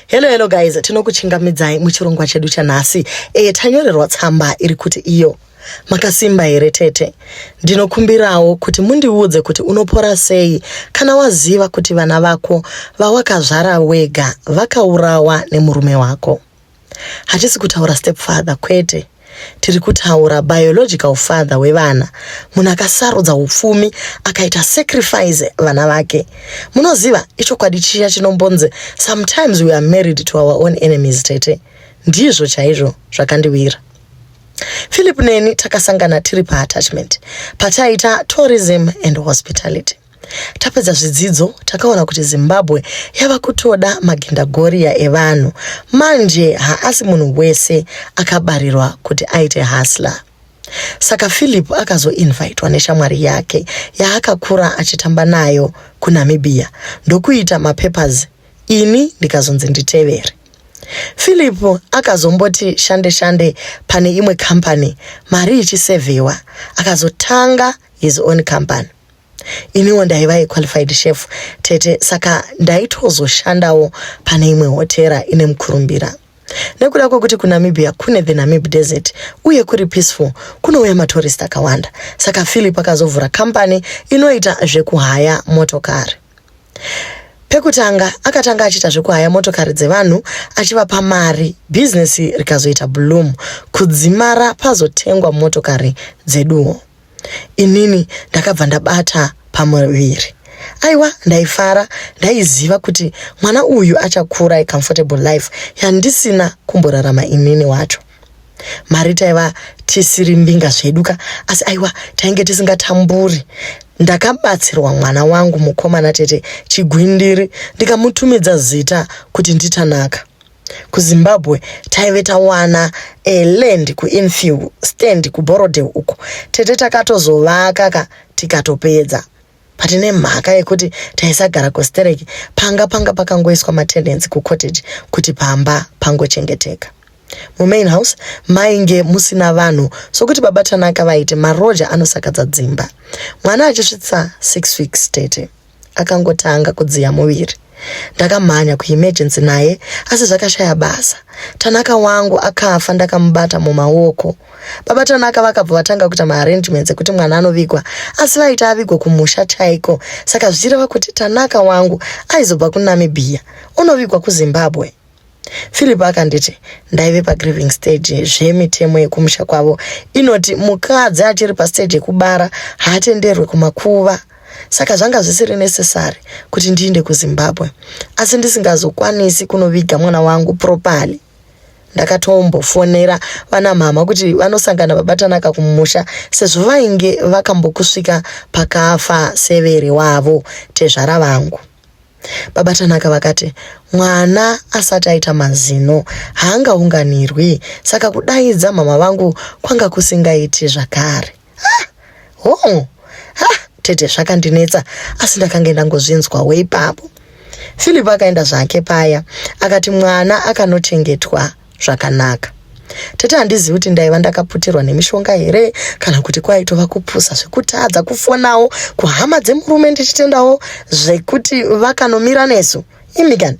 Hello hello guys, tinokuchingamidzai muchirongwa chedu chanhasi. Eh, tanyorerwa tsamba iri kuti iyo makasimba here tete ndinokumbirawo kuti mundiudze kuti unopora sei kana waziva kuti vana vako vawakazvara wega vakaurawa nemurume wako hatisi kutaura stepfather kwete Tiri kutaura biological father wevana, munhu akasarudza upfumi akaita sacrifice vana vake. Munoziva ichokwadi chiya chinombonzi sometimes we are married to our own enemies tete. Ndizvo chaizvo zvakandiwira. Philip neni takasangana tiri paattachment pataiita tourism and hospitality. Tapedza zvidzidzo takaona kuti Zimbabwe yava kutoda magendagoriya evanhu. Manje haasi munhu wese akabarirwa kuti aite hasla. Saka Philip akazoinvitwa neshamwari yake yaakakura achitamba nayo kuNamibia ndokuita mapapers ini ndikazonzi nditevere. Philip akazomboti shande shande pane imwe company mari ichisevhewa akazotanga his own company. iniwo ndaiva equalified chef tete saka ndaitozoshandawo pane imwe hotera ine mukurumbira nekuda kwekuti kunamibia kune the namib desert uye kuri peaceful kunouya matorist akawanda saka philip akazovhura kambani inoita zvekuhaya motokari pekutanga akatanga achiita zvekuhaya motokari dzevanhu achivapa mari bhizinesi rikazoita bloom kudzimara pazotengwa motokari dzeduwo inini ndakabva ndabata pamuviri aiwa ndaifara ndaiziva kuti mwana uyu achakura icomfortable life yandisina kumborarama inini wacho mari taiva tisiri mbinga zvedu ka asi aiwa tainge tisingatamburi ndakabatsirwa mwana wangu mukomana tete chigwindiri ndikamutumidza zita kuti nditanaka kuzimbabwe taive tawana a land kuinfield stand kuborodale uko tete takatozovaka ka tikatopedza but nemhaka yekuti taisagara kustereki panga panga pakangoiswa matendency kucottage kuti pamba pangochengeteka mumain house mainge musina vanhu sokuti baba tanaka vaiti maroja anosakadza dzimba mwana achisvitsa six weeks tete Akangotanga kudziya muviri. Ndakamhanya kuemergency naye asi zvakashaya basa. Tanaka wangu akafa ndakamubata mumaoko. Baba Tanaka vakabva vatanga kuita maarrangements ekuti mwana anovigwa asi vaiti avigwa kumusha chaiko saka zvichireva kuti Tanaka wangu aizobva kuNamibia onovigwa kuZimbabwe. Philip akanditi ndaive pagrieving stage zvemitemo yekumusha kwavo inoti mukadzi achiri pastage yekubara haatenderwe kumakuva saka zvanga zvisiri necessary kuti ndiinde kuzimbabwe asi ndisingazokwanisi kunoviga mwana wangu properly ndakatombofonera vana mhama kuti vanosangana vabatanaka kumusha sezvo vainge vakambokusvika pakafa severe wavo tezvara vangu Baba Tanaka vakati mwana asati aita mazino haangaunganirwi saka kudaidza mama vangu kwanga kusingaiti zvakare. Ah, oh, ah, tete zvakandinetsa asi ndakange ndangozvinzwawo ipapo. Philip akaenda zvake paya akati mwana akanochengetwa zvakanaka tete handizivi kuti ndaiva ndakaputirwa nemishonga here kana kuti kwaitova kupusa zvekutadza kufonawo kuhama dzemurume ndichitendawo zvekuti vakanomira nesu imi kani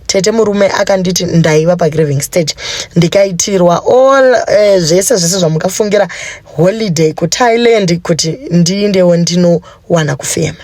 tete murume akanditi ndaiva pagraving stage ndikaitirwa all uh, zvese zvese zvamukafungira holiday kuthailand kuti ndiindewo ndinowana kufema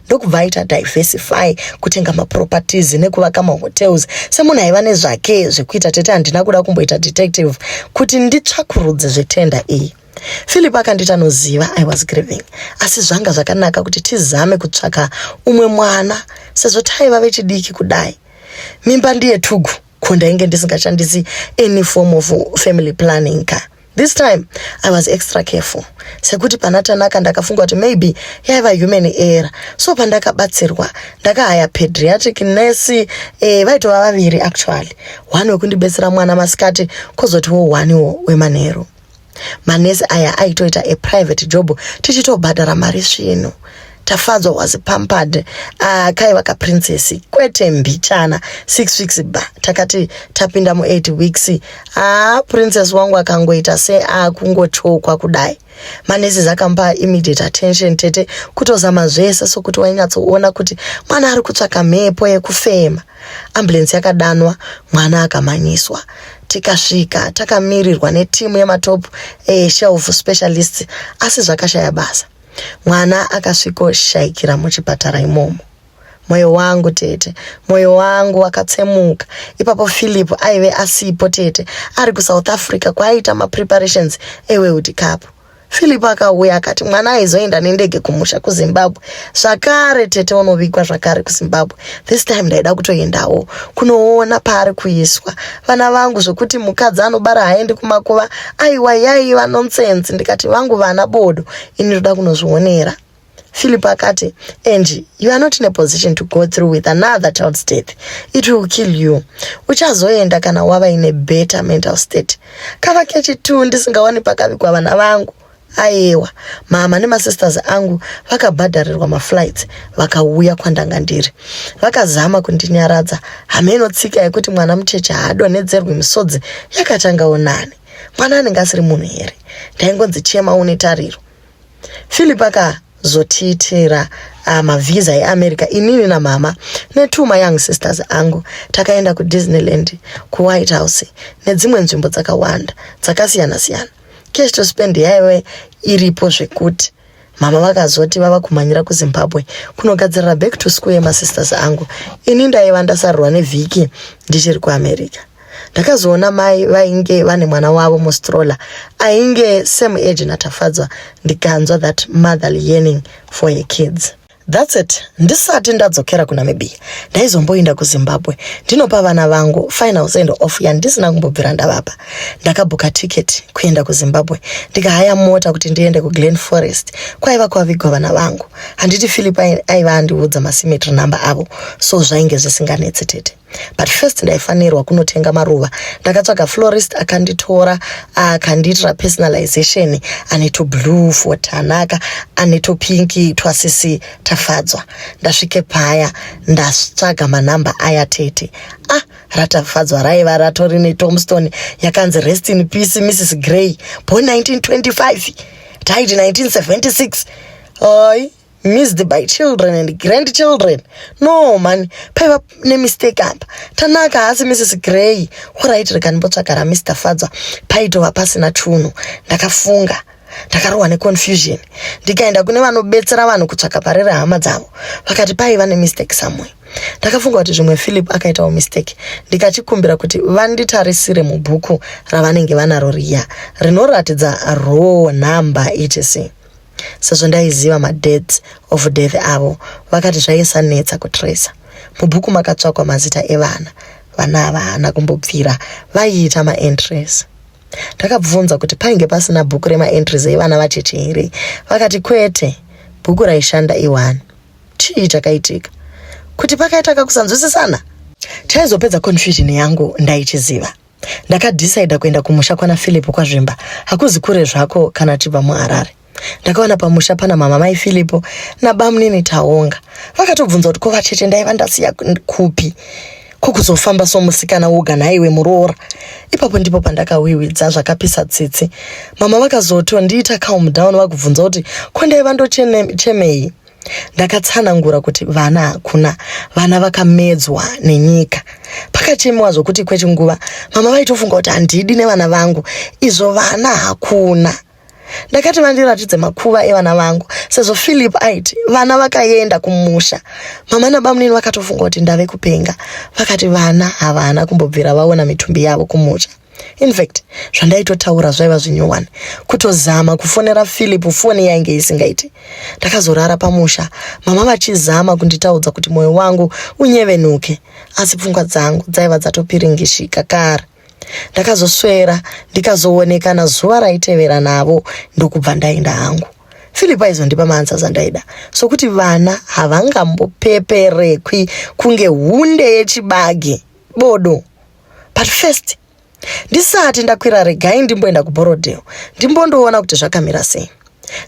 ndokubva aita diversify kutenga maproperties nekuvaka mahotels semunhu aiva nezvake zvekuita tete handina kuda kumboita detective kuti nditsvakurudze zvetenda iyi philip akanditi anoziva i was grieving asi zvanga zvakanaka kuti tizame kutsvaka umwe mwana sezvo taiva vechidiki kudai mimba ndiye tugu ko ndainge ndisingachandisi any form of family planning ka this time i was extra careful sekuti pana tanaka ndakafunga kuti maybe yaiva human error so pandakabatsirwa ndakahaya pediatric nurse eh, vaitova vaviri actually one wekundibetsera mwana masikati kozotiwo one wo wemanheru manesi aya aitoita a private job tichitobhadhara mari svinu tafadzwa was pampered uh, kaiva kaprincess kwete mbichana six weeks ba takati tapinda mueight weeks ah, princess wangu akangoita seakungochokwa ah, kudai manesis akampa immediate attention tete kutozama zvese sokuti wainyatsoona kuti mwana ari kutsvaka mhepo yekufema Ambulance yakadanwa mwana akamhanyiswa tikasvika takamirirwa netimu yematopu eshelf eh, specialists asi zvakashaya basa mwana akasvikoshayikira muchipatara imomo mwoyo wangu tete mwoyo wangu wakatsemuka ipapo philip aive asipo tete ari kusouth africa kwaaiita mapreparations eweuti kapu Philip akauya akati mwana aizoenda nendege kumusha kuZimbabwe zvakare tete unovigwa zvakare kuZimbabwe this time ndaida kutoendawo kunoona paari kuiswa vana vangu zvekuti mukadzi anobara haendi kumakuva aiwa yaiva nonsense ndikati vangu vana bodo ini ndoda kunozvionera Philip akati, Angie, you are not in a position to go through with another child's death. It will kill you. Uchazoenda kana wava in a better mental state. Kava kechi tu ndisingawani pakavigwa vana vangu. Ayewa, mama nemasisters angu vakabhadharirwa maflights vakauya kwandanga ndiri. Vakazama kundinyaradza. Hameno tsika yekuti mwana mucheche haadonhedzerwi misodzi yakatangawo nani. Mwana anenge asiri munhu here? Ndaingonzi chema une tariro. Philip akazotiitira uh, mavhiza eamerica inini namama netwo mayoung sisters angu takaenda kudisneyland kuwhite house nedzimwe nzvimbo dzakawanda dzakasiyana siyana cash to spend yaive iripo zvekuti mama vakazoti vava kumhanyira kuzimbabwe kunogadzirira back to school yemasisters angu ini ndaiva ndasarurwa nevhiki ndichiri kuamerica ndakazoona mai vainge vane mwana wavo mustroller ainge same age natafadzwa ndikanzwa that mother yearning for her kids thats it ndisati ndadzokera kunamibia ndaizomboinda kuzimbabwe ndinopa vana vangu final send off yandisina kumbobvira ndavapa ndakabhuka ticket kuenda kuzimbabwe ndikahaya mota kuti ndiende kuglen forest kwaiva kwavigwa vana vangu handiti philip aiva andiudza masimetry number avo so zvainge zvisinganetsi tete but first ndaifanirwa kunotenga maruva ndakatsvaga florist akanditora akandiitira personalization ane toblue for tanaka ane topinki twasisi tafadzwa ndasvike paya ndatsvaga manhamba aya tete ah ratafadzwa raiva ratori netomstone yakanzi rest in peace mrs grey bo 1925 died 1976 oi missed by children and grandchildren no mani paiva nemistake apa tanaka haasi mrs grey orit rega ndimbotsvaga ramr fadzwa paitova pasina tunhu ndakafunga ndakarohwa neconfusion ndikaenda kune vanobetsera vanhu kutsvaga pari rehama dzavo vakati paiva nemistake somewhere ndakafunga kuti zvimwe philip akaitawo mistake ndikachikumbira kuti vanditarisire mubhuku ravanenge vanaro riya rinoratidza row number etc sezvo ndaiziva madates of death avo vakati zvaisanetsa kutracer mubhuku makatsvakwa mazita evana vana ava haana kumbobvira vaiita maentries ndakabvunza kuti painge pasina bhuku remaentries evana vatete here vakati kwete bhuku raishanda iwani chii chakaitika kuti pakaita kakusanzwisisana taizopedza confusion yangu ndaichiziva Ndakadecider kuenda kumusha kwana Philip kwaZvimba. Hakuzi kure zvako kana tibva muHarare. Ndakawana pamusha pana mama mai Philip nabamunini Taonga. Vakatobvunza kuti ko vatete ndaiva ndasiya kupi? Ko kuzofamba somusikana woga nhaiwe muroora. Ipapo ndipo pandakawiwidza zvakapisa tsitsi. Mama vakazotondiita calm down vakubvunza kuti ko ndaiva ndochemei? ndakatsanangura kuti vana hakuna vana vakamedzwa nenyika pakachemewa zvokuti kwechinguva mama vaitofunga kuti handidi nevana vangu izvo vana hakuna ndakati vandiratidze makuva evana vangu sezvo philip aiti vana vakaenda kumusha mama nabamunini vakatofunga kuti ndave kupenga vakati vana havana kumbobvira vaona mitumbi yavo kumusha in fact zvandaitotaura zvaiva zvinyowani kutozama kufonera philip foni yainge isingaiti ndakazorara pamusha mama vachizama kunditaudza kuti mwoyo wangu unyevenuke asi pfungwa dzangu dzaiva dzatopiringishika kare ndakazoswera ndikazoonekana zuva raitevera navo ndokubva ndaenda hangu philip aizondipa maansa zandaida sokuti vana havangambopeperekwi kunge hunde yechibagi bodo but first ndisati ndakwira regai ndimboenda kuborodale ndimbondoona kuti zvakamira sei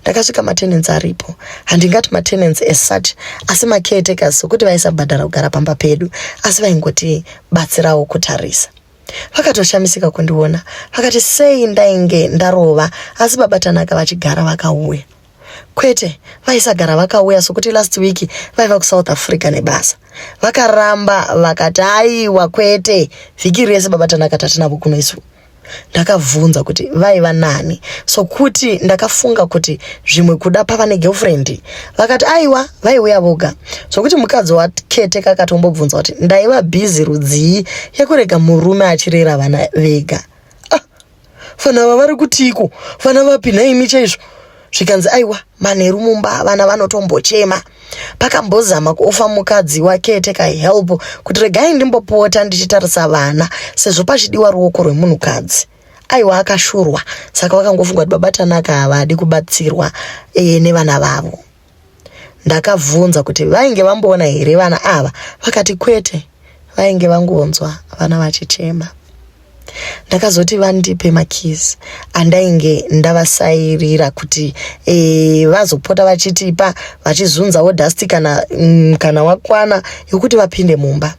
ndakasvika matenensi aripo handingati matenensi esuch asi macaretakers sokuti vaisabhadhara kugara pamba pedu asi vaingoti batsirawo kutarisa vakatoshamisika kundiona vakati sei ndainge ndarova asi baba tanaka vachigara vakauya Kwete, vaisagara vakauya sokuti last week vaiva kuSouth Africa nebasa. Vakaramba vakati aiwa kwete, vhiki rese baba Tanaka tatinavo kuno isu. Ndakabvunza kuti vaiva nani sokuti ndakafunga kuti zvimwe kuda pava negirlfriend. Vakati aiwa vaiuya voga sokuti mukadzi wakete kakatombobvunza kuti ndaiva busy rudzii yekurega murume achirera vana vega. Vana ava vari kutiiko? Vana vapi nhaimi chaizvo? zvikanzi aiwa manheru mumba vana vanotombochema pakambozama kuofa mukadzi wakete kahelp kuti regai ndimbopota ndichitarisa vana sezvo pachidiwa ruoko rwemunhukadzi aiwa akashurwa saka vakangofunga kuti babatanaka havadi kubatsirwa e, nevana vavo Ndakabvunza kuti vainge vamboona here vana ava vakati kwete vainge vangonzwa vana vachichema. Ndakazoti vandipe makeys andainge ndavasairira kuti e, vazopota vachitipa vachizunzawo dust kana, mm, kana wakwana yokuti vapinde mumba.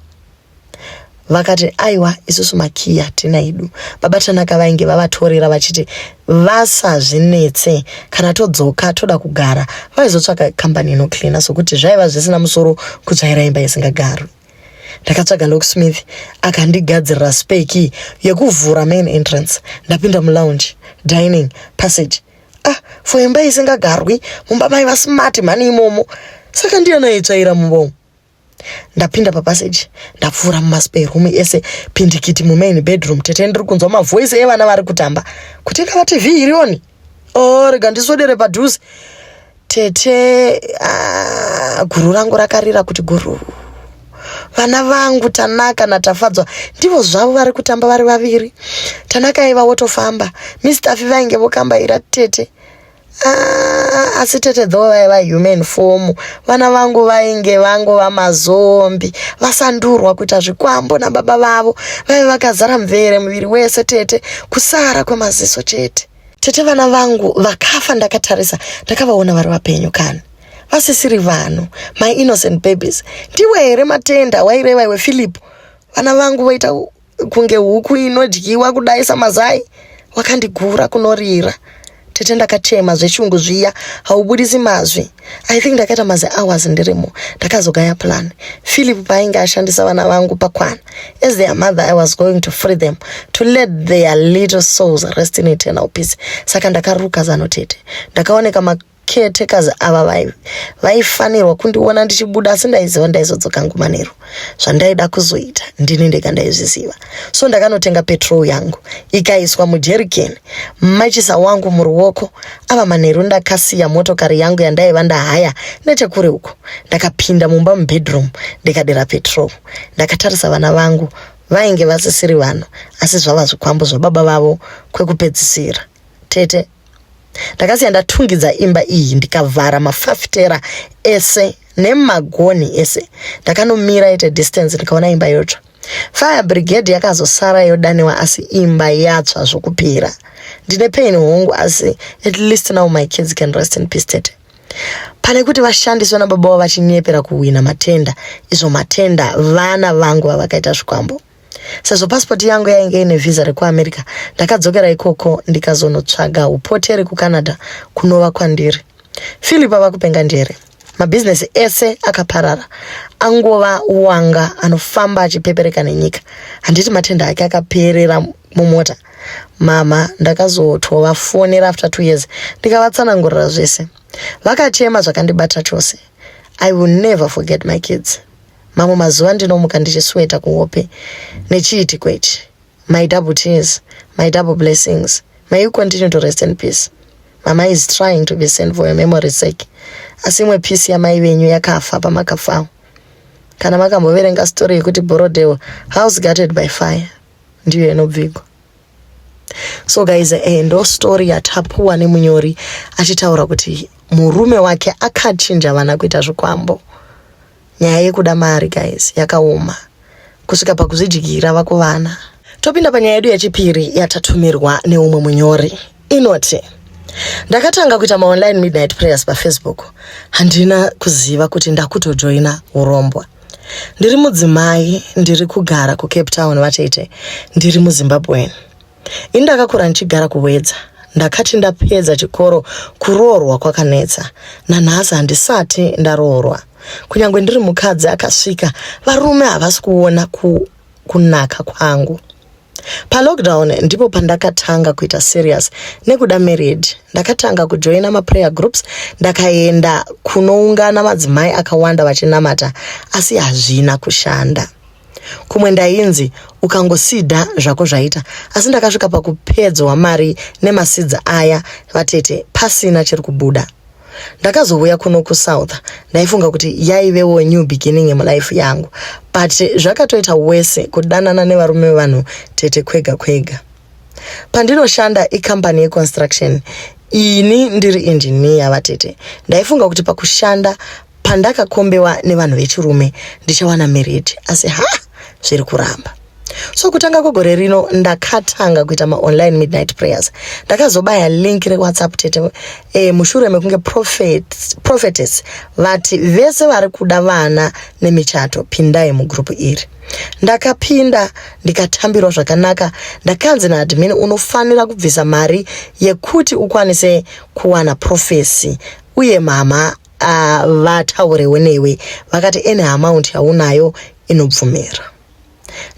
vakati aiwa isusu makiyi hatina idu baba tanaka vainge vavatorera vachiti vasazvinetse kana todzoka toda kugara vaizotsvaga kambani inocleana sokuti zvaiva zvisina musoro kutsvaira imba isingagarwi ndakatsvaga locksmith akandigadzirira speki yekuvhura main entrance ndapinda mulounge dining passage ah for imba isingagarwi mumba mai vasmart mhani imomo saka ndiyana itsvaira mumba umu ndapinda papaseji ndapfuura mumaspare room ese pindikiti mumain bedroom tete ndiri kunzwa mavoice evana vari kutamba kuti ndava tv iri oni o oh, rega ndiswedere padhuze tete ah, guru rangu rakarira kuti guru vana vangu tanaka natafadzwa ndivo zvavo vari kutamba vari vaviri tanaka aiva wotofamba mistafi vainge vokambaira tete Ah, asi tete dho vaiva human form vana vangu vainge vangu vamazombi vasandurwa kuita zvikwambo nababa vavo vaive vakazara mvere muviri wese tete kusara kwemaziso chete tete vana vangu vakafa ndakatarisa ndakavaona vari vapenyu kani vasisiri vanhu my innocent babies ndiwe here matenda waireva iwe philip vana vangu voita kunge huku inodyiwa kudai samazai wakandigura kunorira tete ndakachema zvechungu zviya haubudisi mazwi i think ndakaita mazi hours ndirimo ndakazogaya plan philip paainge ashandisa vana vangu pakwana as their mother i was going to free them to let their little souls rest in eternal peace saka ndakaruka zano tete ndakaoneka caretakers ava vai vaifanirwa kundiona ndichibuda asi ndaiziva ndaizodzoka ngumanero zvandaida kuzoita ndini ndega ndaizviziva so ndakanotenga petrol yangu ikaiswa mujerikeni machisa wangu muruoko ava manheru ndakasiya motokari yangu yandaiva ndahaya nechekure uko ndakapinda mumba mubedroom ndikadira petrol ndakatarisa vana vangu vainge vasisiri vanhu asi zvava zvikwambo zvababa vavo kwekupedzisira tete ndakasiya ndatungidza imba iyi ndikavhara mafafitera ese nemagoni ese ndakanomira at a distance ndikaona imba yotsva fire brigade yakazosara yodaniwa asi imba yatsva zvokupera ndine pain hongu asi at least now my kids can rest in peace tete pane kuti vashandiswe nababa vavo vachinyepera kuhwina matenda izvo matenda vana vangu vavakaita zvikwambo Sezvo pasipoti yangu yainge ine vhiza rekuamerica ndakadzokera ikoko ndikazonotsvaga upoteri kucanada kunova kwandiri philip ava kupenga ndiyere mabhizinesi ese akaparara angova wanga anofamba achipepereka nenyika handiti matenda ake akaperera mumota mama ndakazotovafonera after two years ndikavatsanangurira zvese vakachema zvakandibata chose i will never forget my kids mamwe mazuva ndinomuka ndichisweta kuhope nechiitiko ichi my double tears my double blessings may you continue to rest in peace mama is trying to be sent for your memory sake asi imwe peace yamai venyu yakafa pamakafawo kana makamboverenga story yekuti borodeo house gutted by fire ndiyo inobvigwa so guys eh, ndo story yatapuwa nemunyori achitaura kuti murume wake akachinja vana kuita zvikwambo Nyaya yekuda mari guys yakaoma kusvika pakuzvidyira vakuvana. Topinda panyaya yedu yechipiri yatatumirwa neumwe munyori inoti ndakatanga kuita maonline midnight prayers pafacebook handina kuziva kuti ndakutojoina urombwa ndiri mudzimai ndiri kugara kucape town vatete ndiri muzimbabwen ini ndakakura ndichigara kuwedza ndakati ndapedza chikoro kuroorwa kwakanetsa nanhasi handisati ndaroorwa kunyange ndiri mukadzi akasvika varume havasi kuona ku, kunaka kwangu palockdown ndipo pandakatanga kuita serious nekuda married ndakatanga kujoina maprayer groups ndakaenda kunoungana madzimai akawanda vachinamata asi hazvina kushanda kumwe ndainzi ukangosida zvako zvaita asi ndakasvika pakupedzwa mari nemasidzi aya vatete pasina chiri kubuda ndakazouya kuno kusouth ndaifunga kuti yaivewo new beginning yemulife yangu but zvakatoita wese kudanana nevarume vevanhu tete kwega kwega pandinoshanda ikambani yeconstruction ini ndiri engineer vatete ndaifunga kuti pakushanda pandakakombewa nevanhu vechirume ndichawana merid asi ha zviri kuramba so kutanga kwegore rino ndakatanga kuita maonline midnight prayers ndakazobaya link rewhatsapp tete e, mushure mekunge prophet, prophetess vati vese vari kuda vana nemichato pindai mugrupu iri ndakapinda ndikatambirwa zvakanaka ndakanzi naadmin unofanira kubvisa mari yekuti ukwanise kuwana profesi uye mama uh, vataurewo newe vakati any amount yaunayo inobvumira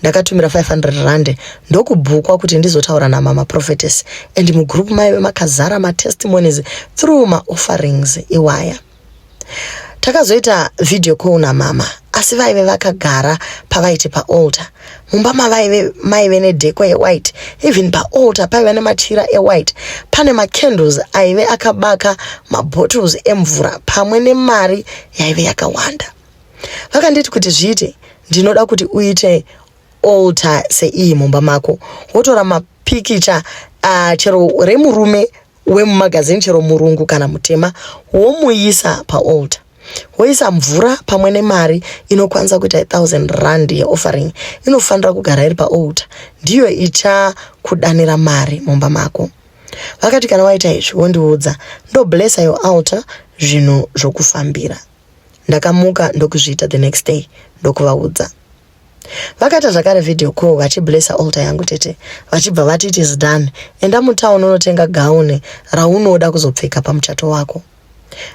ndakatumira 500 rand ndokubhukwa kuti ndizotaura namama prophetess and mugroup maive makazara matestimonies through maofferings iwaya takazoita video call namama asi vaive vakagara pavaiti paalter mumba mavaive maive nedhekwa yewhite even paalter paiva nemachira ewhite pane macandles aive akabaka mabottles emvura pamwe nemari yaive yakawanda vakanditi kuti zviite ndinoda kuti uite alter seiyi mumba mako wotora mapikicha uh, chero remurume wemumagazini chero murungu kana mutema womuyisa paaltar woisa mvura pamwe nemari inokwanisa kuita ithousand rand yeoffering inofanira kugara iri paaltar ndiyo ichakudanira mari mumba mako vakati kana waita izvi wondiudza ndoblessa your altar zvinhu zvokufambira ndakamuka ndokuzviita the next day ndokuvaudza vakaita zvakare video call vachiblessa alter yangu tete vachibva vati it is done enda mutown unotenga gaune raunoda kuzopfeka pamuchato wako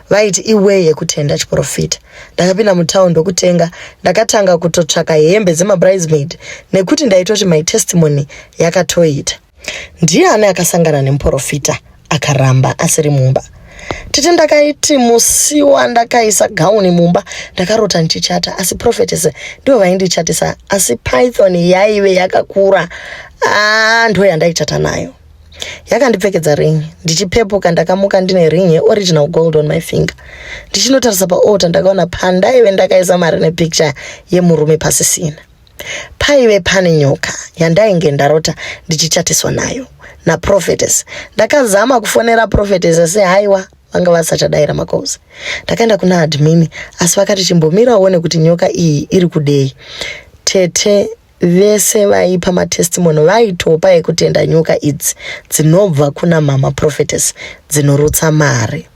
vaiti iway yekutenda chiprofita ndakapinda mutown ndokutenga ndakatanga kutotsvaka hembe dzemabridesmaid nekuti ndaitoti my testimony yakatoita Ndiani akasangana nemuporofita akaramba asiri mumba? Tete ndakaiti musi wandakaisa gauni mumba ndakarota ndichichata asi prophetess ndivo vaindichatisa asi python yaive yakakura ah, ndo yandaichata nayo yakandipfekedza ring ndichipepuka ndakamuka ndine ring yeoriginal gold on my finger ndichinotarisa paota ndakaona pandaive ndakaisa mari nepicture yemurume pasisina paive pane nyoka yandainge ndarota ndichichatiswa nayo naprofetes ndakazama kufonera profetes asi haiwa vanga vasachadaira makosi ndakaenda kuna admin asi vakati chimbomira uone kuti nyoka iyi iri kudei tete vese vaipa matestimony vaitopa ekutenda nyoka idzi dzinobva kuna mama profetes dzinorutsa mari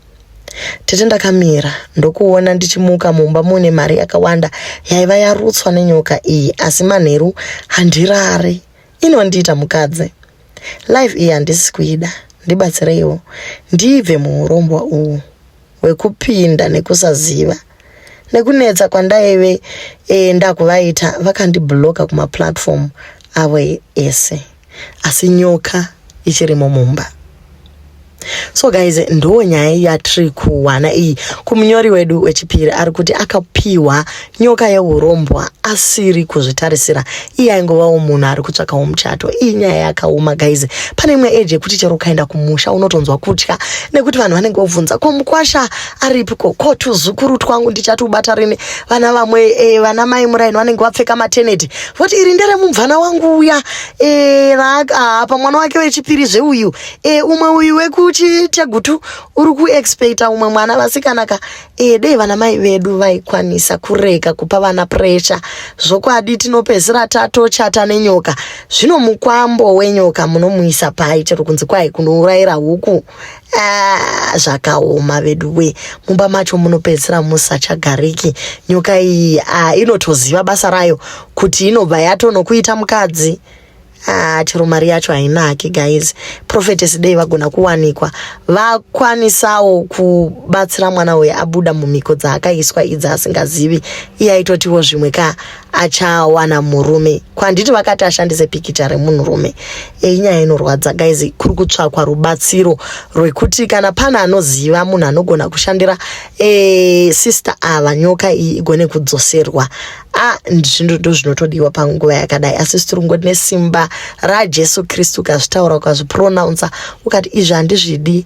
Tete ndakamira ndokuona ndichimuka mumba mune mari yakawanda yaiva yarutswa nenyoka iyi asi manheru handirare inondiita mukadzi life iyi handisi kuida ndibatsireiwo ndibve muurombwa uhu hwekupinda nekusaziva nekunetsa kwandaive e, ndakuvaita vakandibloka kumaplatform avo ese asi nyoka ichirimo mumba so guys ndo nyaya yatiri kuwana iyi kumunyori wedu wechipiri ari kuti akapiwa nyoka yeurombwa asiri kuzvitarisira iye aingovawo munhu ari kutsvakawo muchato iyi nyaya yakaoma guys pane imwe eji yekuti chero ukaenda kumusha unotonzwa kutya nekuti vanhu vanenge vobvunza ko mukwasha aripiko ko tuzukuru twangu ndichati ubata rini vana vamwe e, vana mai muraini vanenge vapfeka mateneti voti iri ndere mumvana wangu uya e, apa mwana wake wechipiri zveuyu e, umwe uyu wekuchitegutu uri kuexpecta umwe mwana vasikanaka e, dei vana mai vedu vaikwanisa kurega kupa vana pressure zvokwadi tinopedzisira tatochata nenyoka zvino mukwambo wenyoka munomuisa pai chero kunzi kwai kunourayira huku Ah, zvakaoma vedu we mumba macho munopedzisira musachagariki nyoka iyi ah, inotoziva basa rayo kuti inobva yatonokuita mukadzi ah, chero mari yacho hainaki guys prophetess dei vagona kuwanikwa vakwanisawo kubatsira mwana uyu abuda mumhiko dzaakaiswa idzi asingazivi iye aitotiwo zvimwe ka achawana murume kwanditi vakati ashandise pikicha remunhurume eyi nyaya inorwadza guys kuri kutsvakwa rubatsiro rwekuti kana pana anoziva munhu anogona kushandira e, sister ava nyoka iyi igone kudzoserwa a zvinhu ndo zvinotodiwa panguva yakadai asi sitirungo tine simba rajesu kristu ukazvitaura ukazvipronounsa ukati izvi handizvidi